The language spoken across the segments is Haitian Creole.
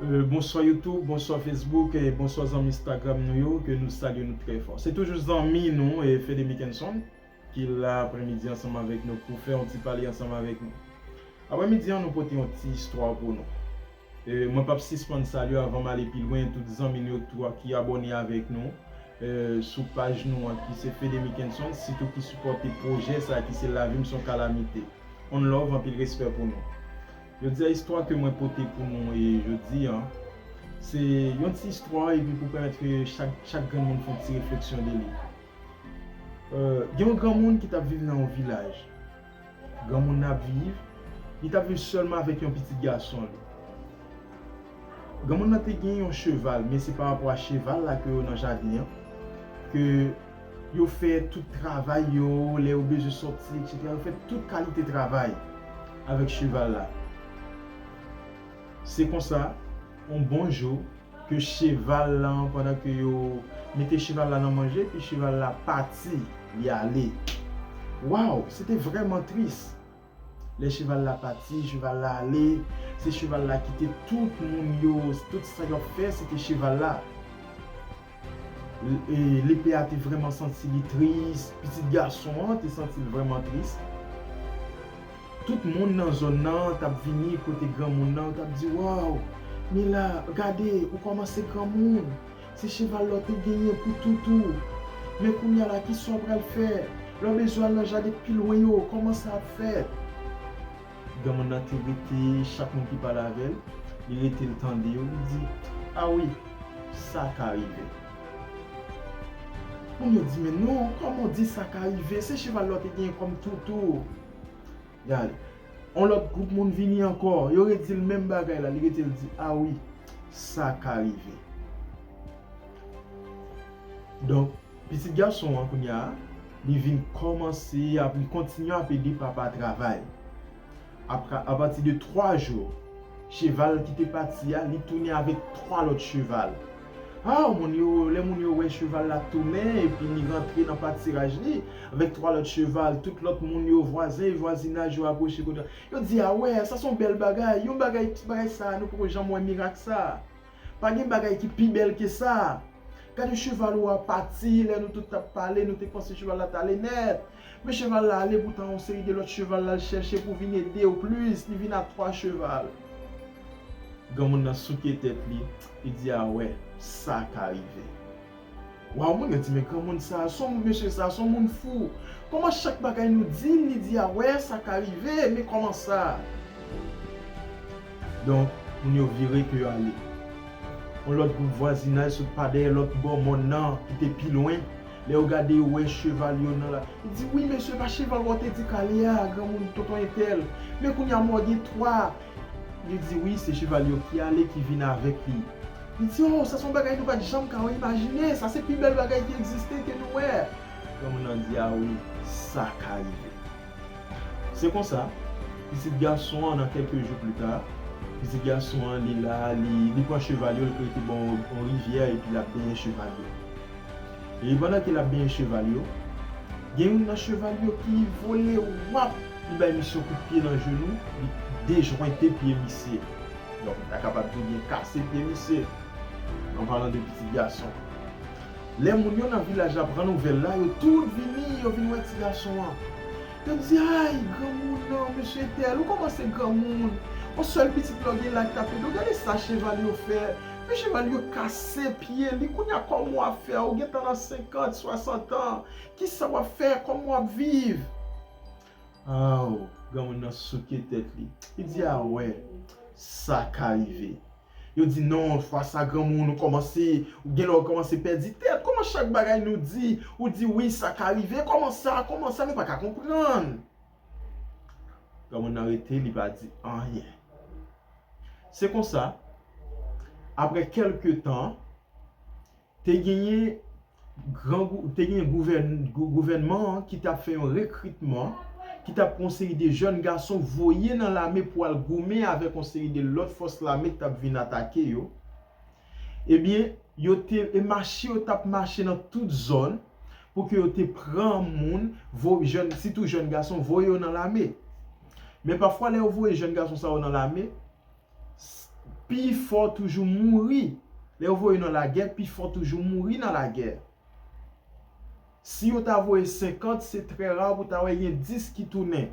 Bonswa YouTube, bonswa Facebook, bonswa zanmi Instagram nou yo ke nou salye nou trè fò. Se toujou zanmi nou Fede Mickenson ki la aprèmidi ansanm avèk nou pou fè yon ti pale ansanm avèk nou. Aprèmidi an nou pote yon ti istwa pou nou. Mwen pap sispann salye avan m ale pi lwen tout zanmi nou yo tou a ki abòne avèk nou sou paj nou an ki se Fede Mickenson sitou ki sipòte pwojè sa ki se Lavi m son kalamite. Onlove anpil respè pou nou. Jodi a istwa ke mwen pote pou nou e jodi an, se yon ti istwa epi pou pèmèt ke chak chak grenn moun fon ti refleksyon de li. Gen yon granmoun ki tap viv nan yon vilaj. Granmoun nan ap viv, li tap viv sèlman avèk yon pitit gason li. Granmoun nan te gen yon cheval men se parapò a cheval la ke yo nan jaden an ke yo fè tout travay yo, lè yo bezwen sòti eksetera yo fè tout kalite travay avèk cheval la. Se konsa yon bon jou ke cheval lan pandan ke yo mete cheval la nan manje epi cheval la pati li ale. Waw se te vrèman tris. Lè cheval la pati, cheval la ale, se cheval la ki te tout moun yo, tout sa y ap fè se te cheval la. Lepè a te vrèman santi li tris, pitit gason an te santi l vrèman tris. Tout moun nan zòn nan t ap vini kote granmoun nan, yo t ap di, Waw, Mila, gade, ou kòmanse granmoun. Se cheval la w te genyen pou tout ou. Men kounya la kisa w pral fè? Lè w bezwen al nan jaden k pi lwen yo, kòman sa ap fèt? Granmoun nan te rete chak moun ki pale avè l, li rete l tande yo, li di, A wi, sa ka rive. Moun yo di, Men non, kòman w di sa ka rive? Se cheval la w te genyen kòm tout ou. Gade. On lòt gwoup moun vini ankò. Yo redi l menm bagay la. Li rete l di, A wi, sa ka rive. Donk, pitit gason an kounye a, li vin kòmanse, li kontinye ap ede papa travay. Apati de twa jou, cheval ki te pati a, li tounen avèk twa lòt cheval. Aww moun yo lè moun yo wè cheval la tounen epi li rantre nan patiraj li avèk 3 lòt cheval tout lòt moun yo vwazen e vwazinaj yo aproche kote la yo di awè sa son bèl bagay yon bagay ti bagay sa nou poko janm wè mirak sa pa gen bagay ki pi bèl ke sa gad yon cheval ou a pati lè nou tout tap pale nou te panse cheval la tale nèt Men cheval la ale poutan yon seri de lòt cheval lal chèche pou vin edew plus li vin a 3 cheval. Granmoun nan souke tèt li, li di a wè sa ka rive. Waw moun yo di men granmoun sa, son moun mesye sa, son moun fou. Kòman chak bagay nou dil li di a wè sa ka rive, men kòman sa. Donk moun yo vire ke yo ale. Yon lòt gwoup vwazinaj sot pa dèyè lòt bò mòn nan ki te pi lwen, Lè yo gade yo wè cheval yo nan la. Li di, wi mesye pa cheval wa w te di kale a, granmoun, tonton entèl. Men kounye a mwa w gen twa. Li di, wi se cheval yo ki ale ki vin avèk li. Li di, o, sa se yon bagay nou pa t janm ka imajine, sa se pi bèl bagay ki egziste ke nou wè. Granmoun nan di, a wi, sa ka rive. Se konsa, pitit gason an nan kèlke jou plita, pitit gason an li la, li pran cheval yo, li prete bò yon rivyè epi l ap benyen cheval yo. Epi pandan ke l ap benyen cheval yo, gen youn nan cheval yo ki vole wap! Li bay misye yon kout pye nan jenou, li dejwente pye misye. Donk, m ta kapab di ou byen kase pye misye, an palan de pitit gason. Lè moun yo nan vilaj la pran nouvèl la, yo tout vini, yo vin wè ti gason an. Yo di, Ay! Granmoun nan, mesye etèl, ou kòmanse granmoun! On sèl pitit lè w gen laj sa fè de w. Gade sa cheval yo fè! Men cheval yo kase pye li kounya kòman wap fè ou gentan nan 50, 60 an kisa wap fè kòman wap viv aww granmoun nan souke tèt li li di a wè sa ka rive yo di non fwa sa granmoun ou kòmanse ou gen lè ou kòmanse pèdi tèt kòman chak bagay nou di ou di wi sa ka rive kòman sa kòman sa nou paka konprann. Granmoun nan rete li pa di anyen. Se konsa, apre kèlke tan, te genyen gouvènman an ki t ap fè yon rekritman, ki t ap pran yon seri de jèn gason voye nan lame pou al goumen avèk yon seri de lòt fòs lame k t ap vin atake yo. Ebyen, yo te, e mache yo tap mache nan tout zòn, pou ke yo te pran moun, vo, jèn, sitou jèn gason, voye yo nan lame. Men pafwa lè yo voye jèn gason sa yo nan lame, s, pi fò toujou mouri. Lè yo voye yo nan lagè, pi fò toujou mouri nan lagè. Si yo ta voye 50, se trè ra pou ta wè gen 10 ki tounen.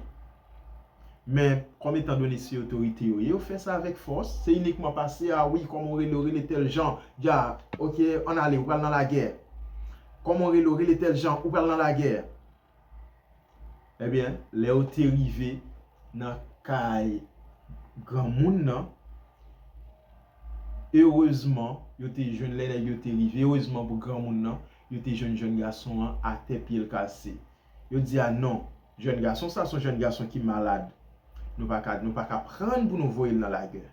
Men, kòm etan done se otorite yo ye, yo fè sa avèk fòs. Se inikman pase, a wi, kòman ou rele ou, rele tèl jan, dja, ok, ann ale, ou pral nan lagè. Kòman ou rele ou, rele tèl jan, ou pral nan lagè. Ebyen, lè yo te rive nan kay granmoun nan, erezman, yo te jwenn, lè nèg yo te rive, erezman pou granmoun nan, yo te jwenn jèn gason an atè pye l kase. Yo di a non, jèn gason sa son jèn gason ki malad, nou pa ka pran l pou nou voye l nan lagè.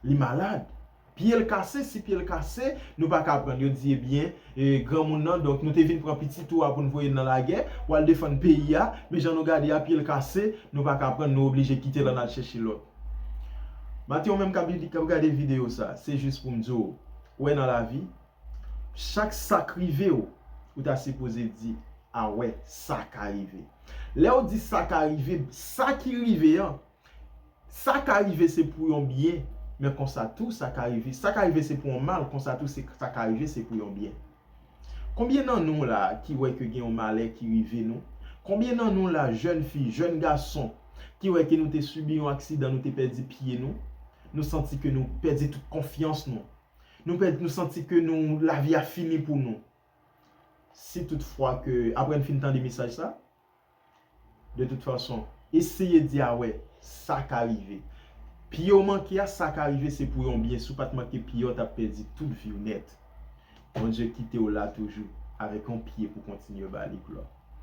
Li malad. Pye l kase, si pye l kase, nou pa ka aprann. Yo di ebyen, granmoun nan, donk nou te vin pran pitit ou a pou n voye l nan lagè, pou al defann peyi a, men jan nou gade a, pye l kase, nou pa ka aprann, nou oblije kite l ann al chèche lòt. Mathe ou menm k ap gade videyo sa, se jis pou m di w, ou wè nan lavi, chak sa k rive w, ou ta sipoze di, a wè, sa ka rive. Lè ou di sa ka rive, sa ki rive an, Sa ka rive se pou yon byen, men konsa tou sa ka rive, sa ka rive se pou yon mal, konsa tou se sa ka rive se pou yon byen. Konbyen nan nou la ki wè ke gen yon malè ki rive nou? Konbyen nan nou la jèn fi, jèn gason ki wè ke nou te sibi yon aksidan, nou te pèdi pye nou, nou santi ke nou pèdi tout konfyans nou, nou pèdi, nou santi ke nou, lavi a fini pou nou. Si tout fwa ke, apre n fin tande mesaj sa, De tout fason, eseye di a wè, sa ka rive. Pye w manke a, sa ka rive se pou yon byen. Si w pa t manke pye a, w t ap pèdi tout vi w nèt. Bondye kite w la toujou, avèk yon pye pou w kontinye ba li glwa.